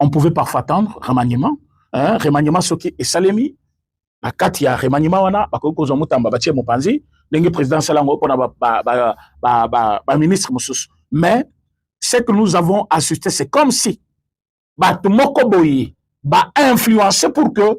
on pouvait parfois attendre remaniement hein, remaniement soki esalemi na kati ya remaniement wana bakoki kozwa mutamba batie mopanzi ndenge président asala yango mpona baministre mosusu mais ce que nous avons assisté c'est comme si bato moko boye bainfluence pour que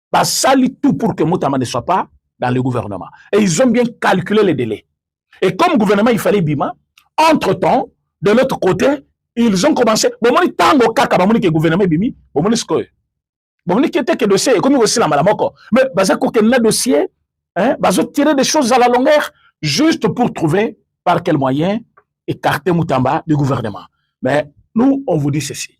basali tout pour que mutamba ne soit pas dans le gouvernement et ils ont bien calculé les délais et comme gouvernement il fallait bima entre temps de l'autre côté ils ont commencé bomoni tango kaka bamoni ke gouvernement ebimi bomoni sikoyo bomoni ke te ke dossier ekomi kosila mbala moko mais baza kokende na dossier hein, bazo tirer des choses à la longueur juste pour trouver par quel moyen écarter Moutamba du gouvernement. Mais nous, on vous dit ceci.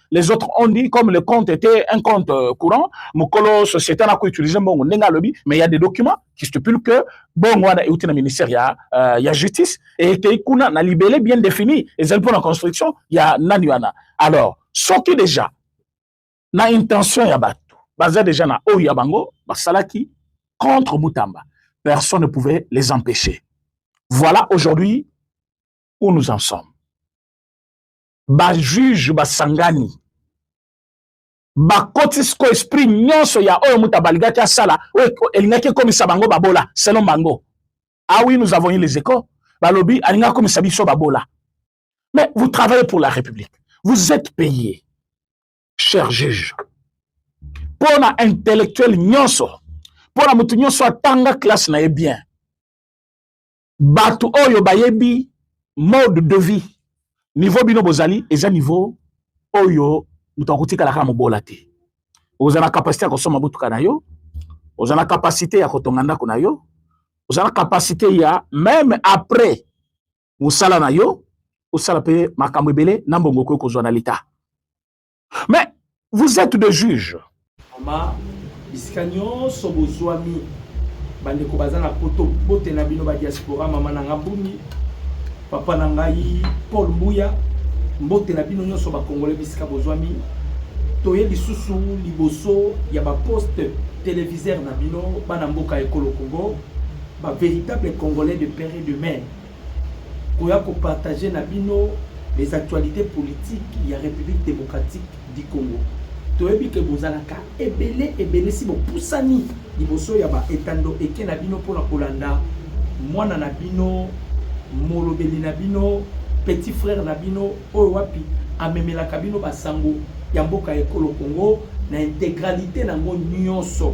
les autres ont dit comme le compte était un compte euh, courant mokolo société na koutilize mbongo ndenge alobi mais il y a des documents qui stipulent que bongo wana euti na ministère ya, uh, ya justice ekei kuna na libele bien défini ezali mpo na construction ya nani wana alors soki déjà na intention ya bato baza déjà na oyo ya bango basalaki contre mutamba personne ne pouvait les empêcher voilà aujourd'hui où nous en sommes bajuge basangani bakoti siko esprit nyonso ya oyo moto abalingaki asala oyo elingaki ekomisa bango babola selon bango ah oui nous avons eu les échos balobi alingaki akomisa biso babola mais vous travaillez pour la république vous êtes payé cher juge mpo na intellectuel nyonso mpo na moto nyonso atanga classe na ye bien bato oyo bayebi mode de vie niveau bino bozali eza niveau oyo moto akotikala kaka mobola te oza na kapasite ya kosomba motuka na yo oza na kapasite ya kotonga ndako na yo oza na kapasite ya meme après mosala na yo osala mpe makambo ebele na mbongo okoki kozwa na leta mais vous êtes des juges mama bisika nyonso bozwami bandeko baza na poto bote na bino badiaspora mama na nga bumi papa na ngai paul mbuya mbote na bino nyonso bakongole bisika bozwami toye lisusu liboso ya baposte televiseur na bino bana mboka ekolo congo ba véritable congolais de père et de mère koya ko partager na bino les actualités politiques ya République démocratique du Congo. Toyebi ke bozalaka ebele ebele si bopusani liboso ya ba etando eke na bino mpo na kolanda mwana na bino molobeli na bino petit frère na bino oyo wapi amemelaka bino basango ya mboka ya ekolo Congo na integralité na yango nyonso.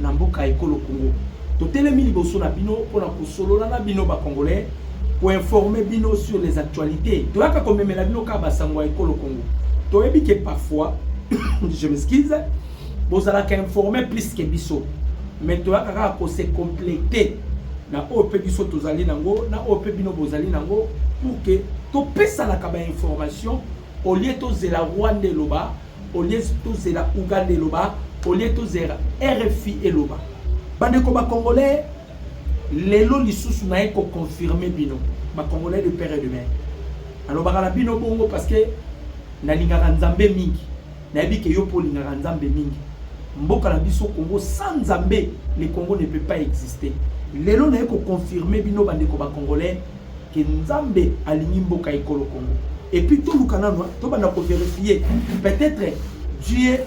na mboka ekolo Congo. Totelemi liboso na bino mpo na kosolola na bino ba Congolais, koinforme bino sur les actualités. Toyaka komemela bino kaka basango ya ekolo Congo. Toyebi ke parfois, je m'excuse, bozalaka informe plus ke biso, mais toyaka kaka kose completer na oyo mpe biso tozali nango na oyo mpe bino bozali nango pour ke topesanaka bainformation olie tozela rwanda eloba au lieu tozela Ouganda eloba au lieu tozela RFI eloba bandeko ba congolais lelo lisusu naye ko confirmer bino ba congolais de père et de mère alobaka na bino bongo parce que nalingaka nzambe mingi nayebi ke yo mpo olingaka nzambe mingi mboka na biso congo sans nzambe le congo ne peut pas exister lelo naye ko confirmer bino bandeko ba congolais ke nzambe alingi mboka ekolo congo epuis toluka nano tobanda koverifie peut-être dieu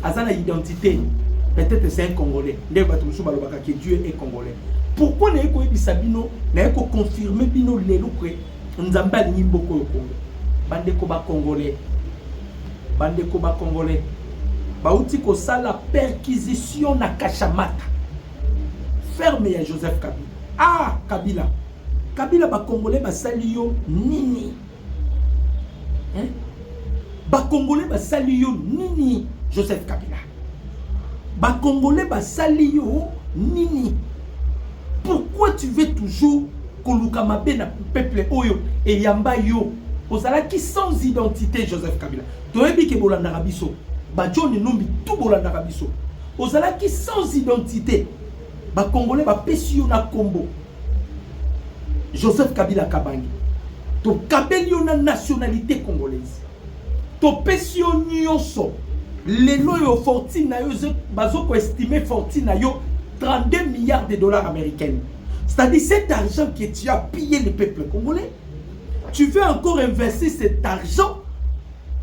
aza na identité peut-être c'est un congolais nde bato mosusu balobaka ke dieu est congolais pourquoi naye koyebisa bino naye koconfirme bino lelo ke nzambe alingi mboka oyo congo bandeko bacongolais bandeko bacongolais bauti kosala perquisition na kashamata ferme ya joseph kabila ah kabila kabila bakongole basali yo nini eh? bakongole basali yo nini joseph kabila bakongole basali yo nini pourquoi tu veux toujours koluka mabe na peuple oyo eyamba yo ozalaki sans identité joseph kabila toyebi ke bolandaka biso bajoni numbi tu bolandaka biso Ozalaki sans identite. Ba Congolais ba pesi yo na kombo. Joseph Kabila Kabange. To kabeli yo na nationalité congolaise. To pesi yo nyonso. Lelo yo fortune na yo bazo ko estimer fortune na yo 32 milliards de dollars américaines. C'est-à-dire cet argent que tu as pillé le peuple congolais, tu veux encore investir cet argent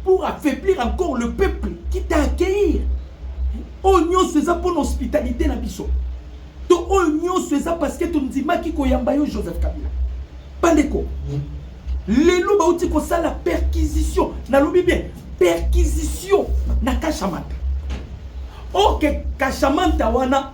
pour affaiblir encore le peuple qui t'a accueillir oyo nyonso eza mpo na hospitalité na biso to oyo nyonso eza parce que tondimaki koyamba yo joseph kabila bandeko lelo bauti kosala perquisition nalobi bien perquisition na kashamanta oke kashamanta wana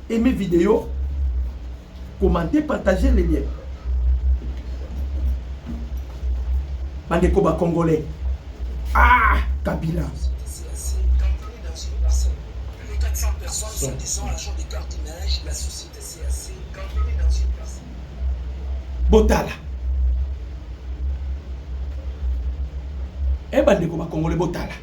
Aimez video, commentez, partagez les liens. Bandeko ba congolais. Ah, Kabila. Botala. Eh bandeko ba congolais botala.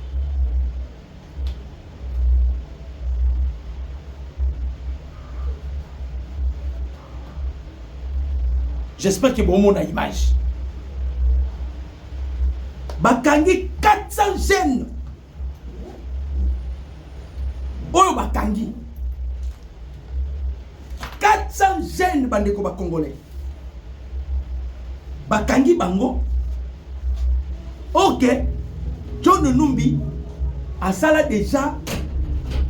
j'espère que bomona image bakangi 400 jeunes oyo bakangi 400 jeunes bandeko ba congolais bakangi bango ok john numbi asala deja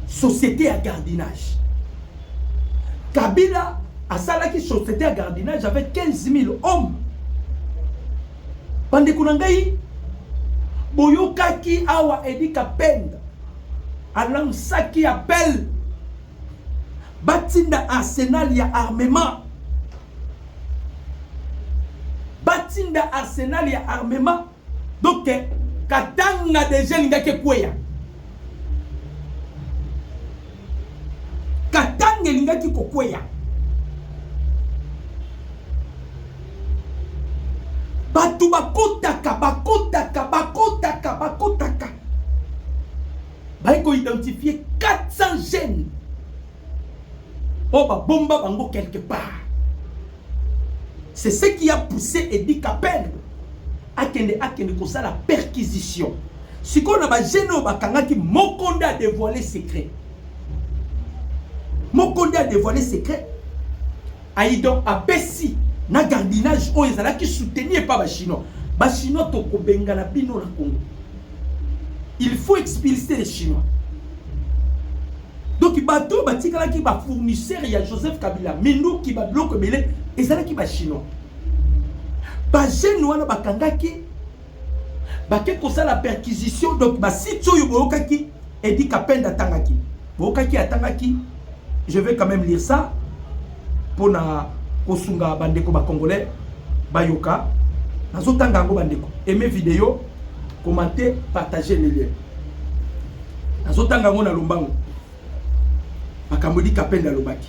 société ya gardinage kabila asalaki société ya gardinage avec 15 000 hommes bandeko na ngai boyokaki awa edi kapenda alansaki appel batinda arsenal ya armement batinda arsenal ya armement donc katanga deja elingaki ekweya katanga elingaki kokweya bato bakotaka bakotaka bakotaka bakotaka baye ko identifier 400 jeunes oyo babomba bango quelque part c'est ce qui a poussé Eddie Capel akende akende kosala perquisition sikoyo na bagene oyo bakangaki moko nde adevoile secret moko nde adevoile secret Ayi donc apesi na gardiennage oyo ezalaki soutenu epa ba chinois ba chinois tokobengana bino na congo il faut expulser les chinois donc bato batikalaki bafournisseur ya joseph kabila minduki babiloko ebele ezalaki bachinois bajeune wana bakangaki bake kosala perquisition donc basite oyo boyokaki edi kapende atangaki boyokaki atangaki je vais quand même lire ça mpona kosunga bandeko bacongolais bayoka nazotanga yango bandeko aime video commente partage le lien nazotanga yango na lombango makambo edi kapende alobaki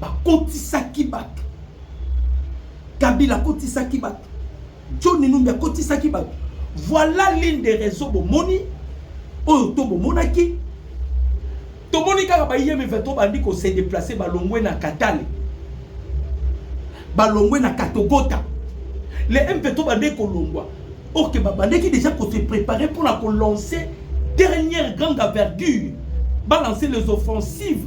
bakotisaki bato kabila akotisaki bato john numbi akotisaki bato voilà l'une des raisons bomoni oyo to bomonaki tomoni kaka bayemi 23 bandi kose deplace balongwe na katale balongwe na katogota le m23 bande kolongwa orke babandaki déjà kose prépare mpona kolancer dernière grande envergure balancer les offensives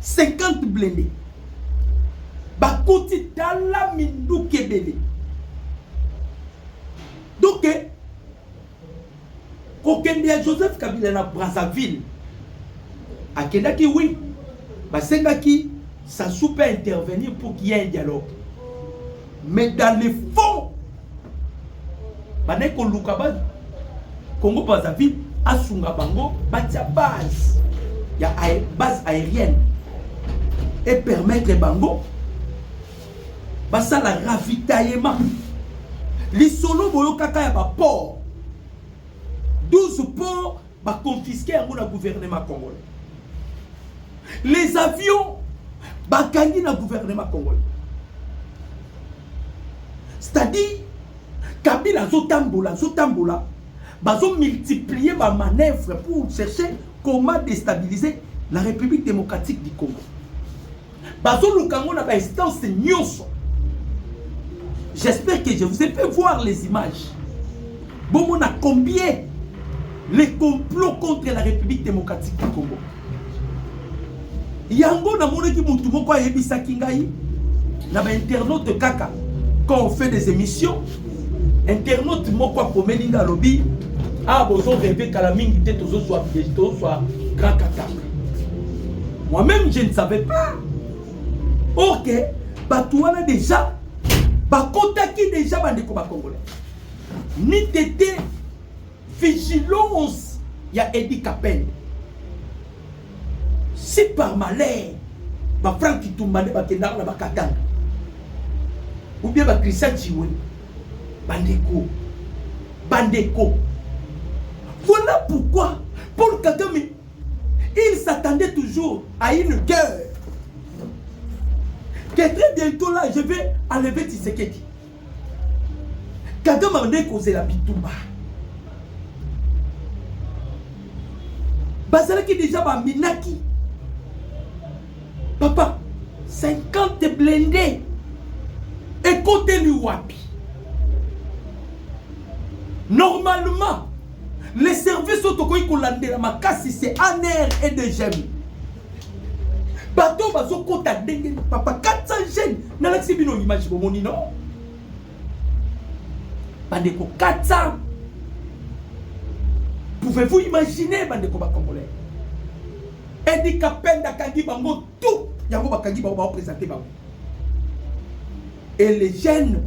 50 blende bakoti tala minduki ebele donc kokende ya joseph kabila na brazzaville akendaki wi basengaki sasu mpe intervenir pour qu'il y ait un dialogue mais dans le fond bandaki koluka ba congo brazzaville asunga bango batia base ya base aérienne et permettre bango basala ravitaillement lisolo boyokaka ya baport 12 port Ba confisque yango na gouvernement congolais. Les avions bakangi na gouvernement congolais. C'est-à-dire Kabila azotambola azotambola bazo multiplier ba manœuvres pour chercher comment déstabiliser la République démocratique du Congo. Bazoluka yango na ba instance nyonso. J'espère que je vous ai fait voir les images. Bomona combien les complots contre la République démocratique du Congo. Yango namonaki mutu moko ayebisaki ngai na ba internaute kaka quand on fait des émissions internaute moko akomeli nga alobi awa ah, bozo reve kala mingi te tozozwa tozozwa grand katanga moi-même je ne savais pas or que bato wana déjà bakotaki déjà bandeko bacongolais ni tete vigilance ya edi kapende Si par malheur ba Franck Kitumba nde bakendaka na Bakatanga ou bien ba Christian Chiwe bandeko bandeko voilà pourquoi Paul Kagame il s'attendait toujours à une guerre que très bientôt là je vais enlever Tshisekedi kagame abandaki kozela bitumba bazalaki deja baminaki papa 50 blende ekoteli wapi normalement les services oyo tokoki kolandela makasi c'est anr et dgm bato oyo bazokota ndenge papa 400 jeune nalakisi bino image bomoni no bandeko 400 pouvez-vous imaginer bandeko bacongolais edi kapenda akangi bango tout yango bakangi bango baopresente bango et les jeunes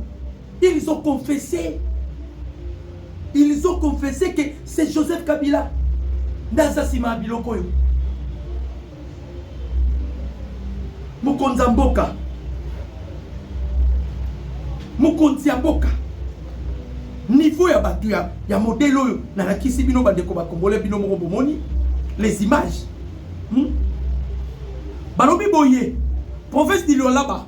Ils ont confessé. Ils ont confessé que c'est Joseph Kabila. Naza sima biloko yo. Mukonza mboka. Mukonzi ya mboka. Niveau ya batu ya, ya modèle oyo na lakisi bino bandeko ba congolais bino moko bomoni les images. Hmm? Balobi boye province du Lualaba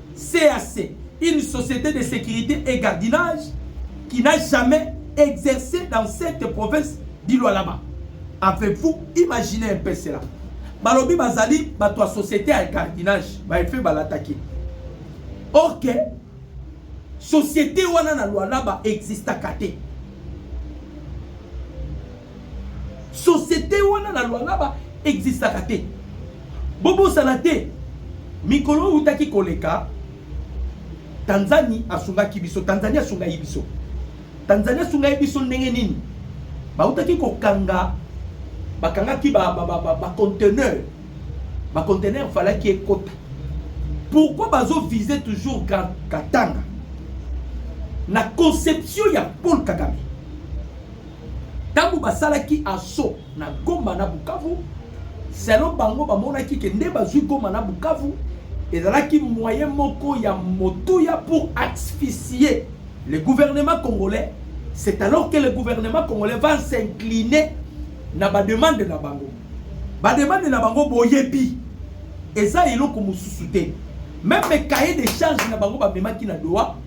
CAC, une société de securite et gardinage qui n'a jamais exercé dans cette province du Lualaba. Avez-vous imaginé un peu cela? Balobi bazali bato ya société ya gardinage, baefe balataki. Or que société wana na Lualaba existaka te. société wana na lualaba existaka te bobosana te mikolo oyo utaki koleka tanzanie asungaki biso tanzanie asungai biso tanzanie asungai biso ndenge nini bautaki kokanga bakangaki baconteneur ba, ba, ba baconteneur falaki ekota pourquoi bazovise toujours katanga na conception ya paul kagame Tango basalaki asso na Goma na Bukavu, selon bango bamonaki ke nde bazui Goma na Bukavu ezalaki moyen moko ya motuya pour asphyxier le gouvernement congolais. C'est alors que le gouvernement congolais va s'incliner na ba demande na bango. Ba demande na bango boyebi eza eloko mosusu te. Même cahier de charge na bango bamemaki na Doha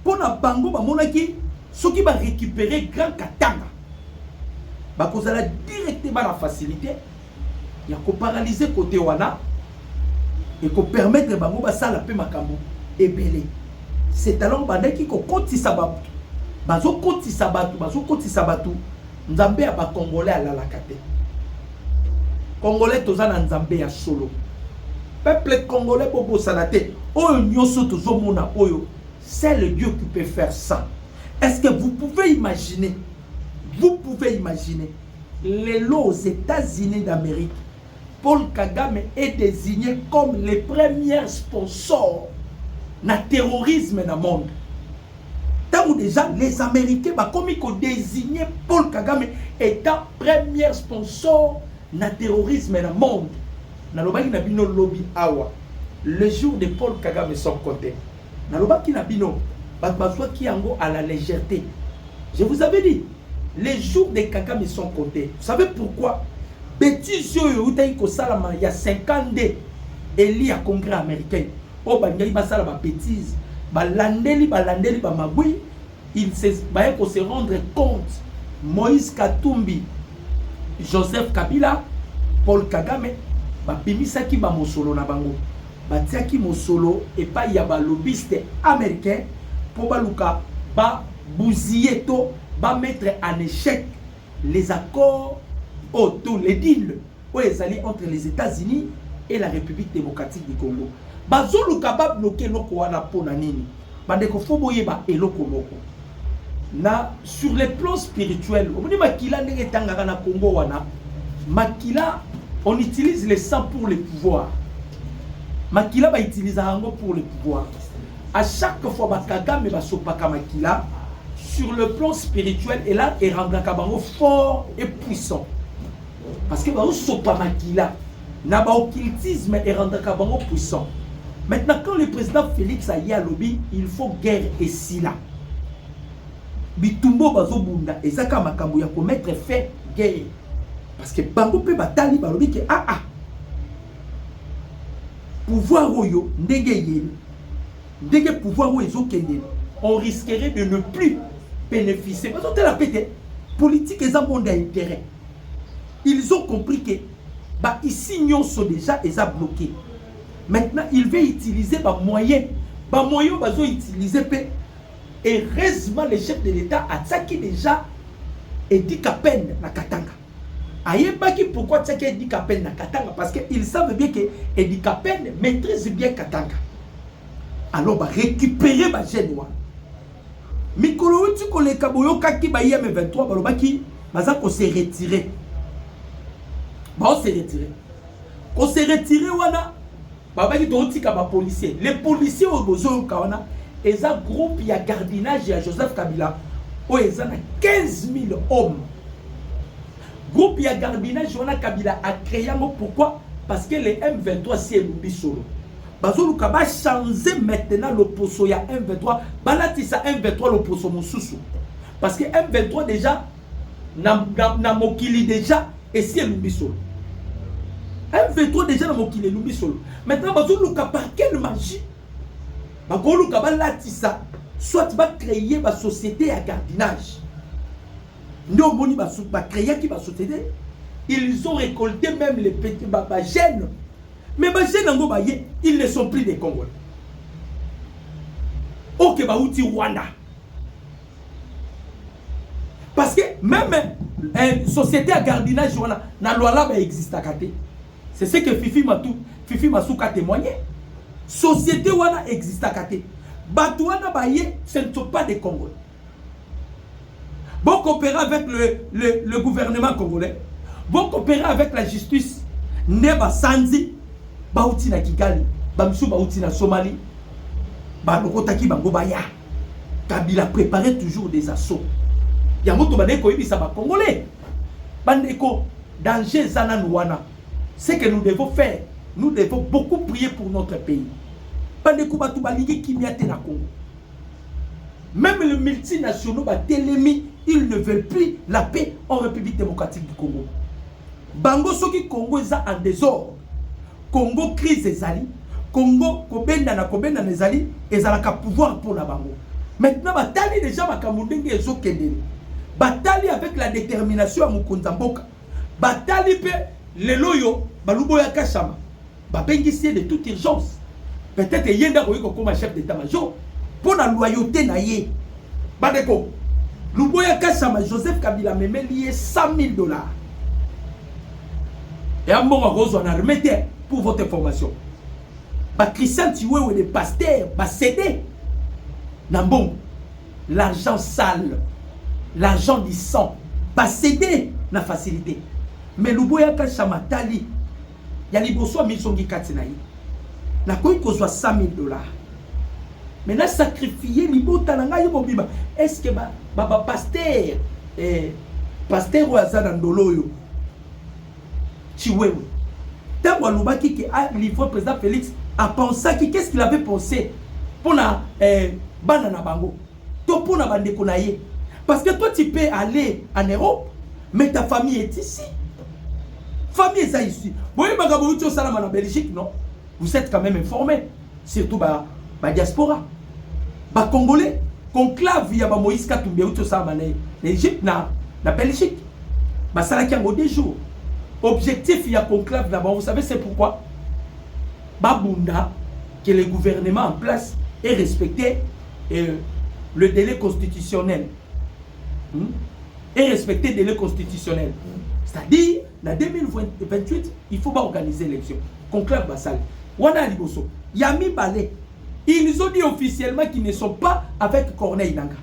Mpo na bango bamonaki soki ba recuperer Grand Katanga bakozala directement na facilité ya ko paralyser kote wana et ko permettre bango basala mpe makambo ebele. C'est alors bandaki kokotisa bato bazokotisa bato bazokotisa bato Nzambe ya ba congolais alalaka te. Congolais toza na nzambe ya solo. Peuple congolais bobosana te oyo nyoso tozomona oyo c'est le Dieu qui peut faire ça. Est-ce que vous pouvez imaginer Vous pouvez imaginer lelo aux États-Unis d'Amérique Paul Kagame est désigné comme le premier sponsor na terrorisme na monde. Tango déjà les Américains bakomi ko désigner Paul Kagame étant premier sponsor na terrorisme na monde. Nalobaki na bino lobi awa. Le jour de Paul Kagame sont comptés. Nalobaki na bino, bato bazwaki yango à la légèreté. Je vous avais dit, les jours de Kagame sont comptés. Vous savez pourquoi? Bêtise oyo eutaki kosalama ya 52 eli ya congrès américain oyo balingaki basala ba bêtise balandeli balandeli bamagwi baye ko se rendre compte moïse katumbi joseph kabila paul kagame babimisaki bamosolo na bango Batiaki mosolo epai ya ba lobbyiste americains mpo baluka ba bousiller to ba mettre en echec les accords oyo to les deals oyo ezali entre les Etats-Unis et la Republique democratique du Congo. Bazoluka ba bloquer eloko wana mpo na nini? Bandeko faut boyeba eloko moko na sur le plan spirituel omoni makila ndenge etangaka na Congo wana makila on utilise le sang pour le pouvoir makila ba utilise yango pour le pouvoir à chaque fois ba Kagame basopaka makila sur le plan spirituel et là et rendaka bango fort et puissant Parce que bazo sopa makila na ba occultisme erendaka bango puissant. Maintenant quand le président Félix aye alobi il faut guerre esila. Bitumbo bazo bunda ezaka makambo ya ko mettre fin guerre. Parce que bango pe batali balobi ke ah ah pouvoir oyo ndenge eyeli ndenge pouvoir oyo ezokende on risquerait de ne plus bénéficier bazotela pe te politique eza monde ya intérêt Ils ont compris que ba ici nyonso déjà eza bloqué. Maintenant, il veut utiliser ba moyens. Ba moyens bazo utiliser pe heureusement le chef de l'État atsaki déjà Eddie Kapend na Katanga. Ayebaki pourquoi atsaki Eddie Kapend na Katanga parce que ils savent bien que Eddie Kapend maîtrise bien Katanga. Alors ba récupérer ba jeunes wana. Mikolo euti koleka boyokaki bayi ya M23 balobaki baza ko se retirer. Bao se retirer. Ko se retirer wana babaki totika ba policiers. Les policiers oyo bozoyoka wana eza groupe ya gardiennage ya Joseph Kabila oyo eza na 15000 hommes Groupe ya gardiennage wana kabila a cree yango pourquoi? Parce que le M23 esi elumbi solo. Bazoluka ba changer maintenant loposo ya M23, balatisa M23 loposo mosusu. Parce que M23 déjà na, na, na mokili déjà esi elumbi solo. M23 déjà na mokili elumbi solo. Maintenant bazoluka par quelle magie? Bakoluka balatisa soit ba créer ba société ya gardiennage. nde omoni bacreaki basociété ils ont récolté même les petits bagène mais bagène yango baye ils ne sont plus des congolais oke bauti rwanda parce que même eh, société ya gardinage wana na lwala baexistaka te c'est ce que fifi matu fifi masuka témoigne société wana existaka te bato wana baye ce ne sont pas des congolais Vous coopérez avec le, le, le gouvernement congolais. Vous coopérez avec la justice. Neba Sanzi, Bauti na Kigali, Bamsou Bauti na Somalie, Balokotaki Bangobaya. Kabila préparait toujours des assauts. Yango to bandeko yebisa ba congolais. Bandeko danger zana nuana. Ce que nous devons faire, nous devons beaucoup prier pour notre pays. Bandeko batu balingi kimia te na Congo. Même les multinationaux batelemi, ils ne veulent plus la paix en République démocratique du Congo. Bango soki Congo eza en désordre, Congo crise ezali, Congo kobendana kobendana ezali, ezalaka pouvoir mpo na bango. Maintenant batali déjà makambo ndenge ezokende. Batali avec la détermination ya mokonzi ya mboka. Batali mpe lelo oyo baluboya kashama babengisi ye de toute urgence peut-être ye nde akoki kokoma chef d'état major mpo na loyauté na ye bandeko luboya kasama joseph kabila amemeli ye 100 000 dollars ya mbongo akozwa na arme te pour votre information bachristian tiwewe de paster basede na mbongo l'argent sale l'argent du sang basede na facilité mais luboya kasama tali ya liboso amizongi kati na ye nakoki kozwa 100000 dollars me na sacrifie libota na ngai ye mobimba estce bapaster eh, paster oyo aza na ndolo oyo chiwewe ntango alobaki ke alivre ah, président félix apensaki qu'est ce qu'il avait pensé mpo na eh, bana na bango to mpo na bandeko na ye parce que toi tu peux aller en Europe mais ta famille est ici famille eza ici boyebaka bouti osalama na Belgique non vous êtes quand même informé surtout ba ba diaspora ba congolais conclave ya ba Moïse Katumbi bouti osalama na na Egypte na na Belgique basalaki yango deux jours objectif ya conclave na bango vous savez c'est pourquoi babunda que le gouvernement en place est respecté et le délai constitutionnel hmm? et respecter délai constitutionnel hmm. c'est-à-dire na 2028 il faut baorganiser élection conclave basali wana ya liboso ya mibale ils ont dit officiellement qu'ils ne sont pas avec corneille nanga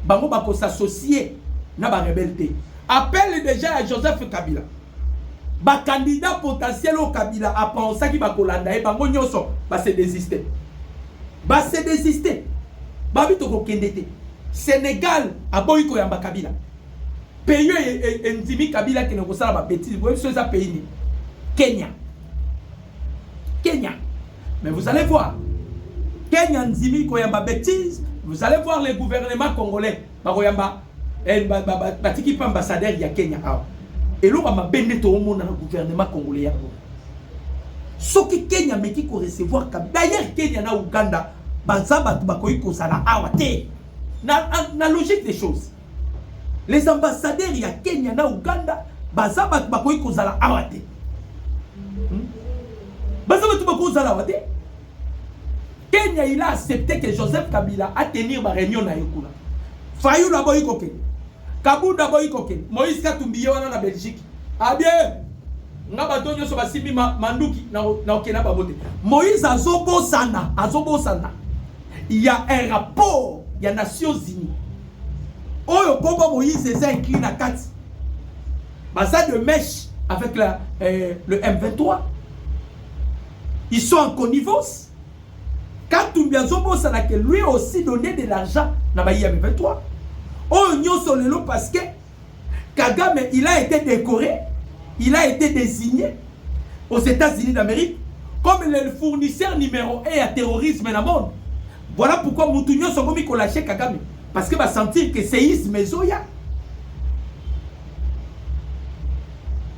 bango bakosassocie na barebele te appelle déjà ya joseph kabila bakandidat potentiel oyo kabila apensaki bakolanda ye bango nyonso base desiste Ba se desister. Babi tokokende te. Senegal aboyi koyamba Kabila. Pays oyo e, e, endimi Kabila akende kosala ba bêtises. Boyebi so eza pays nini? Kenya. Kenya. Mais vous allez voir. Kenya ndimi koyamba bêtises. Vous allez voir le gouvernement congolais. bakoyamba eh, ba, ba, ba, batiki mpe ambassadeur ya kenya awa eloko ya mabe nde toomona na gouvernement congolais yango soki kenya ameki korecevoir kabi d'ailleurs kenya na uganda baza bato bakoki kozala awa te na, na, na logique des choses les ambassadeurs ya kenya na uganda baza bato bakoki kozala awa te hmm? baza bato bakoki kozala awa te Kenya il a accepte que Joseph Kabila a tenir ba reunion na ye kuna. Fayulu aboyi kokende. Kabunda aboyi kokende. Moïse Katumbi ye wana na Belgique. Abie nga bato nyonso basimbi ma, manduki na okende na bango te. Moïse azobosana, azobosana. Il y a un rapport ya Nations Unies. Oyo kombo Moïse eza inclus na kati. Baza de mèche avec la, euh, le M23. Ils sont en connivence. Katumbi azobosana que lui aussi donné de l'argent na bayi ya M23. Oyo nyonso lelo parce que Kagame il a été décoré, il a été désigné aux États-Unis d'Amérique comme le fournisseur numéro 1 ya terrorisme na monde. Voilà pourquoi mutu nyonso akomi kolâche Kagame parce que ba sentir que séisme ezoya.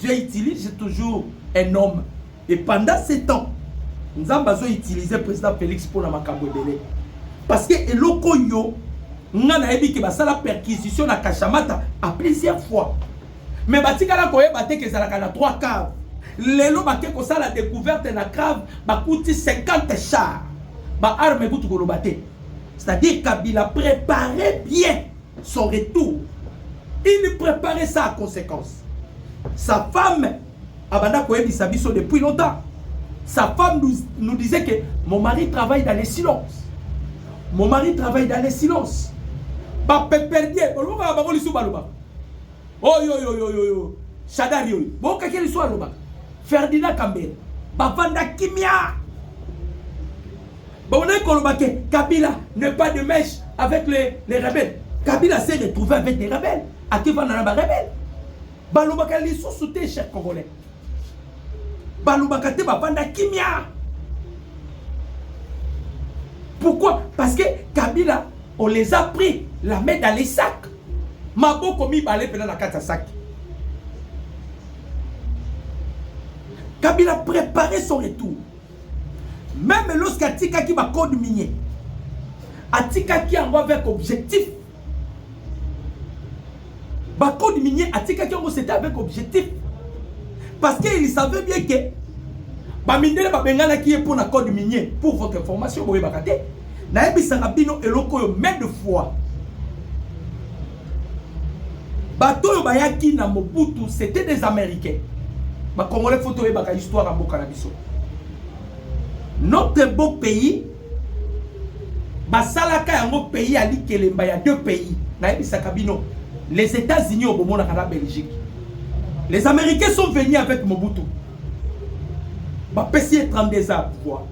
Dieu utilise toujours un homme et pendant ce temps nzambe azo utiliser président Félix mpo na makambo ebele parce que eloko yo nga nayebi ke basala perquisition na kashamata à plusieurs fois mais batikala koyeba te ke ezalaka na 3 cave lelo bake kosala découverte na cave bakuti 50 char baarme kutu koloba te c'est-à-dire kabila prépare bien Son retour, il prepare ça à conséquence. Sa femme abanda koyebisa biso depuis longtemps. Sa femme nous, nous disait que mon mari travaille dans les silences. Mon mari travaille dans les silences. Ba peperdie, olobaka bango lisu baloba. Oh yo yo yo yo yo. Shadari yo. Boka keli so aloba. Ferdinand Kambere. Bavanda kimia. Baonaki koloba ke Kabila ne pas de mèche avec les, les rebelles. Kabila s'est retrouvé avec des rebelles. Akivanda na ba rebelles. Balobaka lisusu te cher Congolais. Balobaka te bavanda kimia. Pourquoi Parce que Kabila, on les a pris la main dans les sacs. Maboko mibale pena na kati ya sac. Kabila préparait son retour. Meme lorsque atikaki ba code minier, atikaki yango avec objectif. Ba code minier atikaki yango c'était avec objectif. Parce qu'il savait bien que ba mindele ba benganaki ye mpo na code minier pour votre information boyebaka te. Nayebisaka bino eloko oyo main de fois. bato oyo bayaki na mobutu c'était des américains bakongole fo toyebaka histoire ya mboka na biso notre beau pays basalaka yango pays ya likelemba ya deux pays nayebisaka bino les états-unis oyo bomonaka na belgique les américains sont venus avec mobutu bapesi ye 32 ans ya pouvoir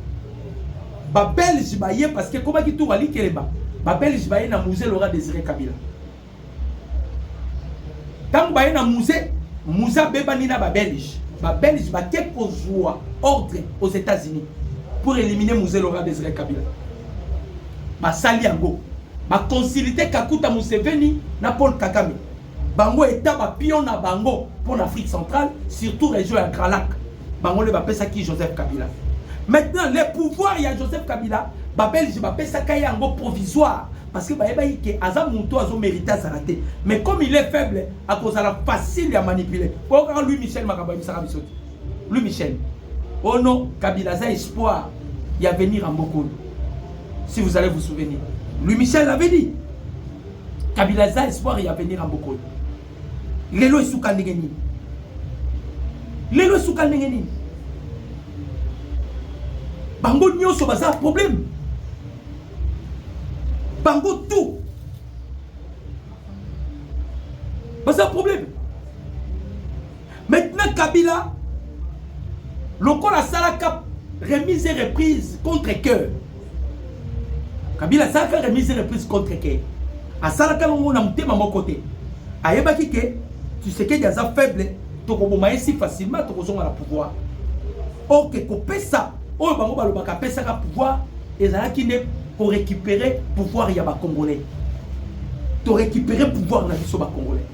Ba belge ba ye parce que koba ki tour ali keleba. Ba belge ba ye na musée Laura Désiré Kabila. Tango ba ye na musée, musée abebani na ba belge. Ba belge ba ke kozua ordre aux États-Unis pour éliminer musée Laura Désiré Kabila. Ba sali yango. Ba consulter Kakuta Museveni na Paul Kagame. bango eta ba pion na bango mpo na afrique centrale surtout région ya grand lac bango nde bapesaki joseph kabila maintenant le pouvoir ya joseph kabila babelge bapesaka ye yango provisoire parce que bayebaki ke aza moto azomérite azala te mais comme il est faible akozala facile ya manipule oyo kaka louis michel makambo ayebisaka biso te louis michel o oh non kabila aza espoir ya venir ya mbokolo si vous allez vous souvenir louis michel avait dit Kabila aza espoir ya avenir ya mboka oyo. Lelo esuka ndenge nini? Lelo esuka ndenge nini? Bango nyonso baza problème. Bango tout baza problème. Maintenant Kabila lokola asalaka remise et reprise contre cœur kabila asalaka remise reprise contre ke asalaka longo na motema moko te ayebaki ke tshisekedi aza faible tokoboma ye si facilement tokozonga na pouvoir orke kopesa oyo bango balobaka apesaka pouvoir ezalaki nde korécupere pouvoir ya bacongolais torécupere pouvoir na biso bacongolais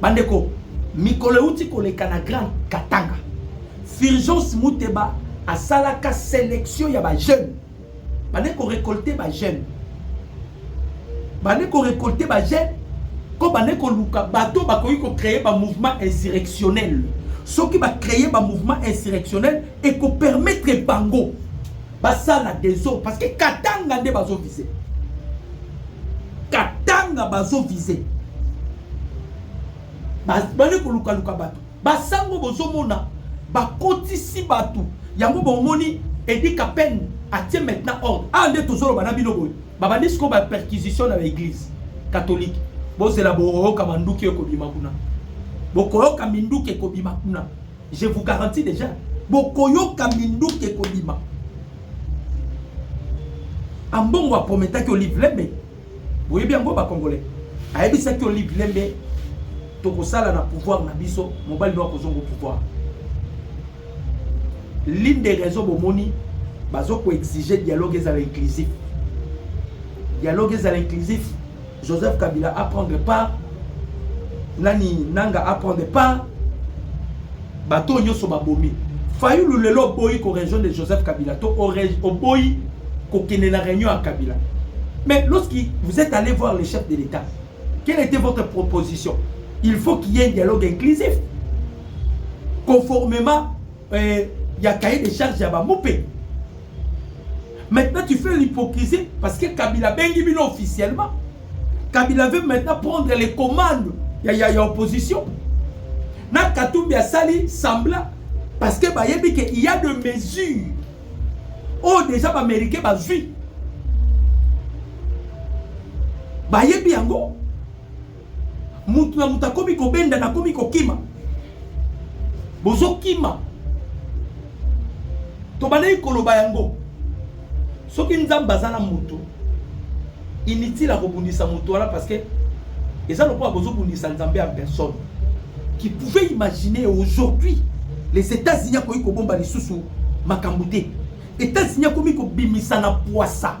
Bandeko, mikolo euti koleka na Grand Katanga, Fulgence Muteba asalaka selection ya ba jeunes. Bande ko récolter ba jeunes. Bande ko récolter ba jeunes ko bande ko luka bato bakoki ko créer ba mouvement insurrectionnel. Soki ba créer ba mouvement insurrectionnel et ko permettre bango basala desordre parce que katanga nde bazo vise katanga bazo vise bali kolukaluka bato basango bozomona bakotisi bato yango bomoni edi kapene atie maintenant ordre awa ah, nde tozoloba na bino boye babandi sikoyo baperquisition na baeglise katolike bozela bokoyoka manduki ekobima kuna bokoyoka minduki ekobima kuna Je vous garantis déjà, bokoyoka minduki ekobima. Ambongo aprometaki Olive Lembe, boyebi yango ba Congolais. Ayebisaki Olive Lembe tokosala na pouvoir na biso, mobali no akozongo pouvoir. L'une des raisons bomoni bazo ko exiger dialogue ezala inclusif. Dialogue ezala inclusif. Joseph Kabila a prendre part nani nanga a prendre part bato nyonso babomi fayulu lelo oboyi ko région de Joseph Kabila to oboyi kokende na réunion ya Kabila mais lorsque vous êtes allé voir le chef de l'État quelle était votre proposition il faut qu'il y ait un dialogue inclusif conformément euh, ya cahier de charge ya bamupe maintenant tu fais l'hypocrisie parce que kabila abengi bino officiellement kabila veut maintenant prendre les commandes ya, ya, ya opposition na katumbi asali sembla parce que bayebi ke il y a de mesures oyo oh, déjà baaméricain bazwi bayebi yango Mutu na mutu akomi kobenda na komi kokima. Bozokima. Tobandaki koloba yango. Soki Nzambe aza na mutu, inutile akobundisa mutu wana parce que eza lokola bozobundisa Nzambe en personne. Qui pouvait imaginer aujourd'hui les États-Unis akoki kobomba lisusu makambo te. États-Unis akomi kobimisa na pwasa.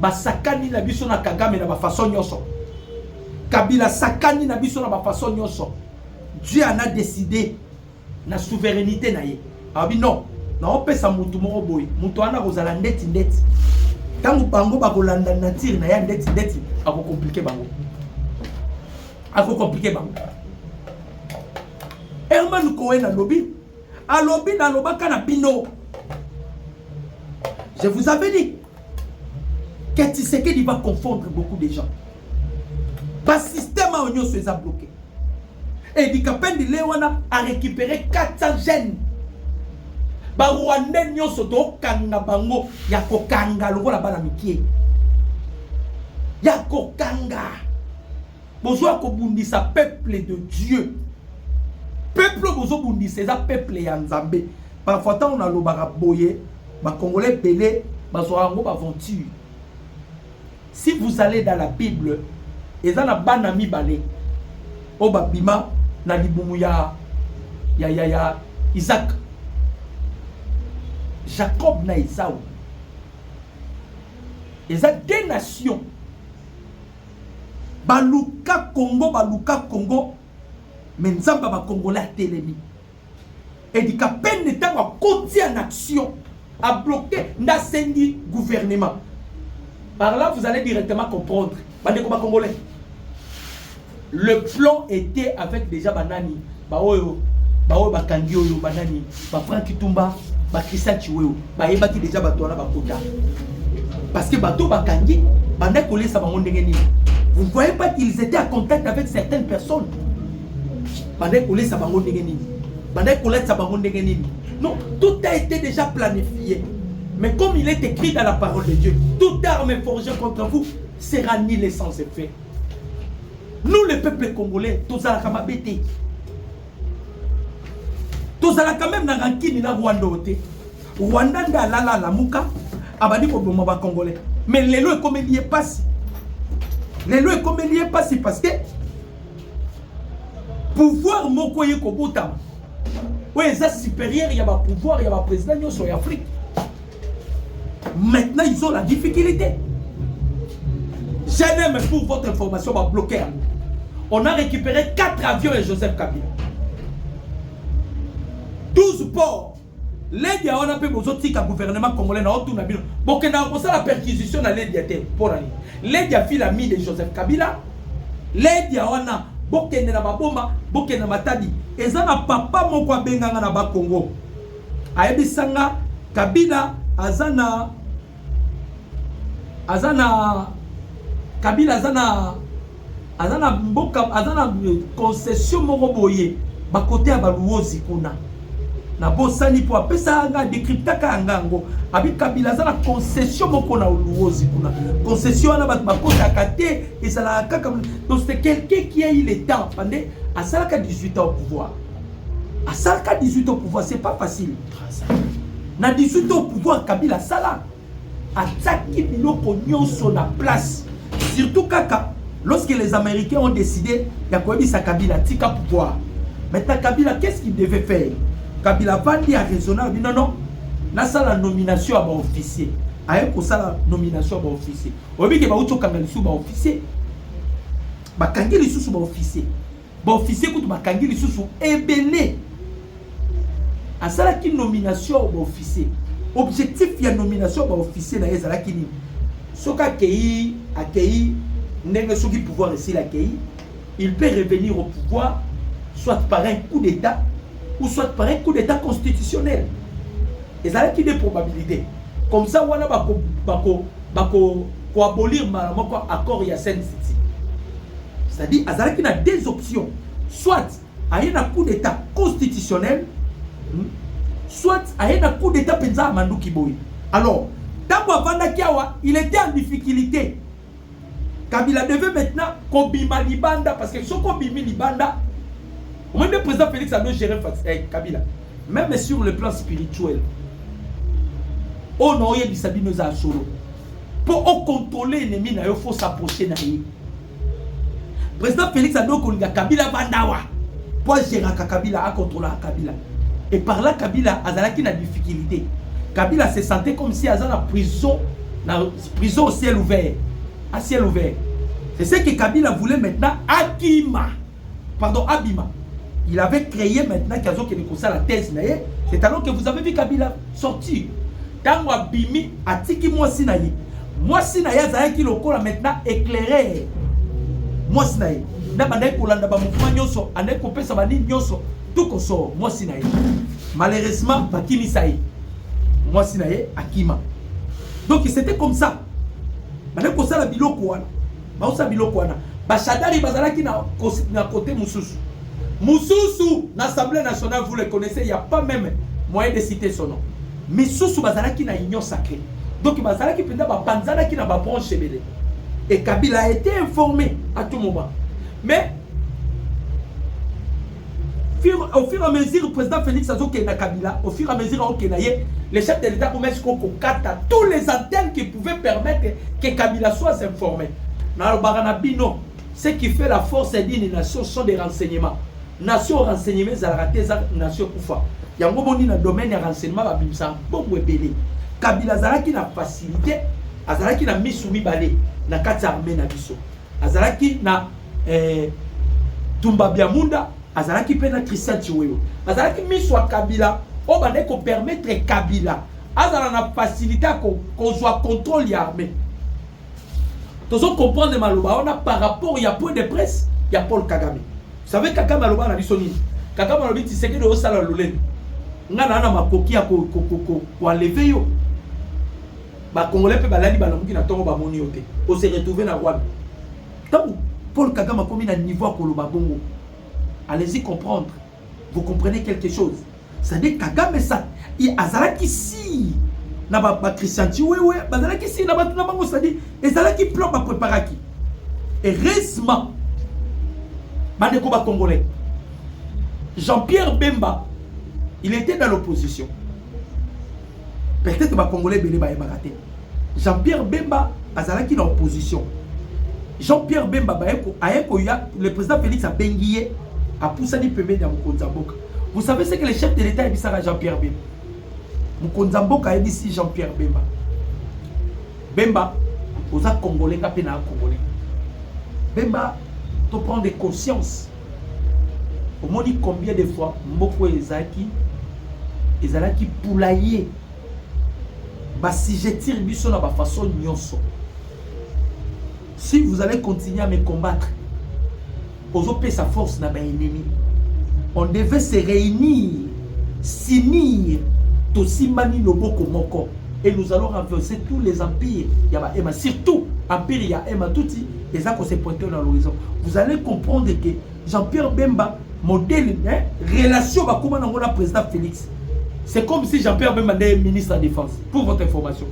Basakani na biso na Kagame na ba façon nyonso. Kabila sakani na biso na ba façon nyonso. Dieu en a décidé na souveraineté na ye. Abi non, na opesa mutu moko boye, mutu wana kozala ndeti ndeti. Tango bango bakolanda nature na ya ndeti ndeti, ako compliquer bango. Ako compliquer bango. Herman Cohen alobi Alobi na lobaka na bino. Je vous avais dit que Tshisekedi va confondre beaucoup de gens. Ba système a onyo seza bloqué. Et dit Kapendi Lewana a récupéré 400 jeunes. Ba Rwandais nyoso to kanga bango ya ko kanga lokola bana mikie. Ya ko kanga. Bozoya kobundisa peuple de Dieu. Peuple bozobundisa eza peuple ya Nzambe. Parfois ntango nalobaka boye bakongole ebele bazwaka yango baaventure. Si vous allez dans la Bible, eza na bana mibale oyo babima na libumu ya, ya, ya, ya Isaac. Jacob na Esau. Eza deux nations Baluka Congo, baluka Congo, mais Nzambe ya ba Congolais atelemi. Edi Kapende ntango akoti en action, a bloquer nde asengi gouvernement. Par là, vous allez directement comprendre. Bandeko ba Congolais, le plan était avec déjà banani, baoyo, baoyo bakangi oyo banani, ba Franck Kitumba ba Christian Chiwewe bayebaki deja bato wana bakota parce que bato bakangi bandaki kolesa bango ndenge nini vous ne voyez pas qu'ils étaient en contact avec certaines personnes bandaki kolesa bango ndenge nini bandaki kolatisa bango ndenge nini non tout a été déjà planifié mais comme il est écrit dans la parole de Dieu toute arme forgée contre vous sera nul et sans effet nous les peuples congolais tozalaka mabe te tozala quand même na rankini na rwanda oyo te rwanda nde alala alamuka abandi koboma bacongolais mais lelo ekomeli ye mpasi lelo ekomeli ye mpasi parce que pouvoir moko ye kobotama oyo eza supérieur ya bapouvoir ya baprésident nyonso ya afrique Maintenant, ils ont la difficulté. J'aime pour votre information, va bloquer. On a récupéré 4 avions et Joseph Kabila. 12 ports. Ledia wana pe bozotika gouvernement congolais na otuna bino. Bokenda kosala perquisition na Ledia te pour aller. Ledia fila mi de Joseph Kabila. Ledia wana bokende na baboma, bokende na matadi. Eza na papa moko abenganga na ba Congo. Ayebisa nga Kabila aza na aza na Kabila aza na aza na mboka aza na concession moko boye bakote ya baluozi kuna na bosani mpo apesa nga decryptaka yanga yango abi kabila aza na concession moko na luozi kuna concession wana bato bakotaka te ezalaka kaka donc c'est quelqu'un qui a eu le temps pande asalaka 18 ans au pouvoir asalaka 18 au pouvoir c'est pas facile na 18 au pouvoir kabila asala atiaki biloko nyonso na place surtout kaka lorsque les américains ont décidé ya koyebisa kabila tika pouvoir maintenant kabila qu'est-ce qu'il devait faire kabila avandi ya raisonne abi non non nasala nomination ya baofficier aye kosala nomination ya baofficier oyebi ke bauti okanga lisusu baofficier bakangi lisusu baofficier ba officier kutu bakangi lisusu ebele asalaki nomination ba officier objectif ya nomination ba officier na ye ezalaki nini soki akei akei ndenge soki pouvoir esili akei il peut revenir au pouvoir soit par un coup d'état ou soit par un coup d'état constitutionnel Ezalaki nde probabilite. Comme ça wana bako bako bako ko abolir mbala moko accord ya Saint City. C'est-à-dire azalaki na deux options. Soit aye na coup d'état constitutionnel hmm, soit aye na coup d'état penza manduki boye. Alors, tango avandaki awa, il était en difficulté. Kabila devait maintenant kobima libanda parce que soki obimi libanda omoni nde président Félix ado gérer eh, Kabila même sur le plan spirituel oyo oh na oyebisa bino eza solo mpo okontrole ennemi na yo fo s'approche na ye président Félix ado kolinga Kabila bandawa mpo agéraka Kabila akontrolaka Kabila et par là Kabila azalaki na difficulté Kabila se sentait comme si aza na prison na Prison au ciel ouvert. À ciel ouvert. C'est ce que Kabila voulait maintenant Akima. Pardon, Abima. Il avait créé maintenant Kazo qui est la thèse. C'est alors que vous avez vu Kabila sortir. Tango Abimi, Atiki Mwasi Naye. Mwasi Naye Azayaki Lokola maintenant éclairé. Mwasi Naye. Na bandai kolanda ba mouvement nyoso, andai kopesa ba nini nyoso, tout koso mwasi na ye. Malheureusement bakimisa ye. Mwasi na ye akima. Donc c'était comme ça. Bana kosala biloko wana. Baosala biloko wana. Bashadari bazalaki na na côté mususu. Mususu na Assemblée nationale vous les connaissez, il y a pas même moyen de citer son nom. Misusu bazalaki na union sacrée. Donc bazalaki penda ba panzanaki na ba branche ebele. Et Kabila a été informé à tout moment. Mais au fur et à mesure président Félix azokenda Kabila au fur et à mesure aokenda ye le chef de l'État komesi ko kokata tous les antennes qui pouvaient permettre que Kabila soit informé nalobaka na bino ce qui fait la force d'une nation sont des renseignements nation renseignement ezalaka te eza nation kufa yango boni na domaine ya renseignement babimisa mbongo ebele Kabila azalaki na facilité azalaki na misu mibale na kati ya armée na biso azalaki na eh, tumba biamunda azalaki mpe na christian chiwewe azalaki miso ya kabila oyo bandaki kopermettre kabila azala na facilité ya kozwa contrôle ya armée tozo comprendre maloba wana par rapport ya point de presse ya paul kagame savez kagame aloba na biso nini kagame alobi tisekedi osala lolendo ngai naa na makoki ya koenleve yo ba congolais mpe balali balamuki na ntongo bamoni yo te o se retrouver na rwanda ntango paul kagame akomi na niveau ya koloba bongo allez-y comprendre vous comprenez quelque chose c'est-à-dire kagame sa azalaki si na bachristian chiwewe bazalaki si na bato na bango c'est-à-dire ezalaki plan bapreparaki heureusement bandeko bacongolais jean-pierre bemba il était dans l'opposition peut-être bakongole ebele bayebaka te jean pierre bemba azalaki na opposition jean pierre bemba aye koya le président félix abengi ye apusani pembeni ya mokonzi ya mboka vous savez ce que le chef de l'état ayebisaka jean pierre bemba mokonzi ya mboka ayebisi jean pierre bemba bemba oza congolais nga mpe naa congolais bemba to prendre conscience omoni combien de fois mboko ezalaki ezalaki poulaye basigetire biso na bafaçon nyonso si vous allez continuer à me combattre ozopesa force na baennemi on devait se réunir s'unir tosimbani loboko moko et nous allons renverser tous les empires ya baema surtout empire ya ema tuti eza ko se pointer na l'horizon vous allez comprendre que Jean-Pierre Bemba modèle hein, relation bakoma nango na président Félix c'est comme si Jean-Pierre Bemba nde ministre ya défense pour votre information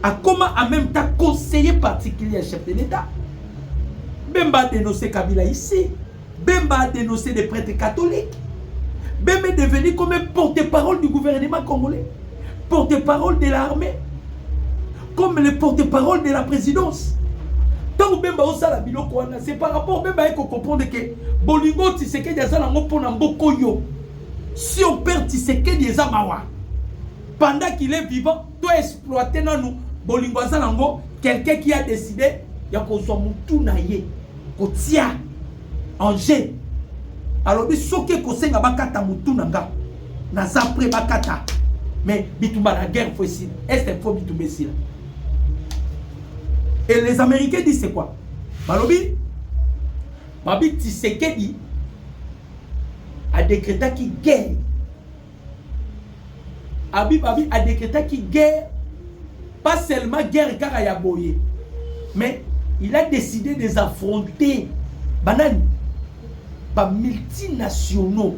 akoma en même temps conseiller particulier ya chef de l'État Bemba a dénoncé Kabila ici Bemba a denoncer des pretres catholiques. Bemba est devenu comme un porte-parole du gouvernement congolais, porte-parole de l'armée, comme le porte-parole de la présidence. Tant Bemba osala biloko wana, c'est par rapport Bemba eko comprendre que bolingo Tshisekedi aza nango mpo na mboko yo. Si on perd Tshisekedi eza mawa. Pendant qu'il est vivant, to exploite nanu bolingo aza nango quelqu'un qui a décidé ya kozwa mutu na ye kotia en jeu alobi soki ekosenga bakata mutu na nga naza prêt bakata mais bitumba na guerre fo esila est il faut bitumba esila et les américains disent c'est quoi balobi babi tisekedi adekretaki guerre abi abi a decretaki guerre pas seulement guerre kaka ya boye mais il a décidé des affronter banani ba multinationaux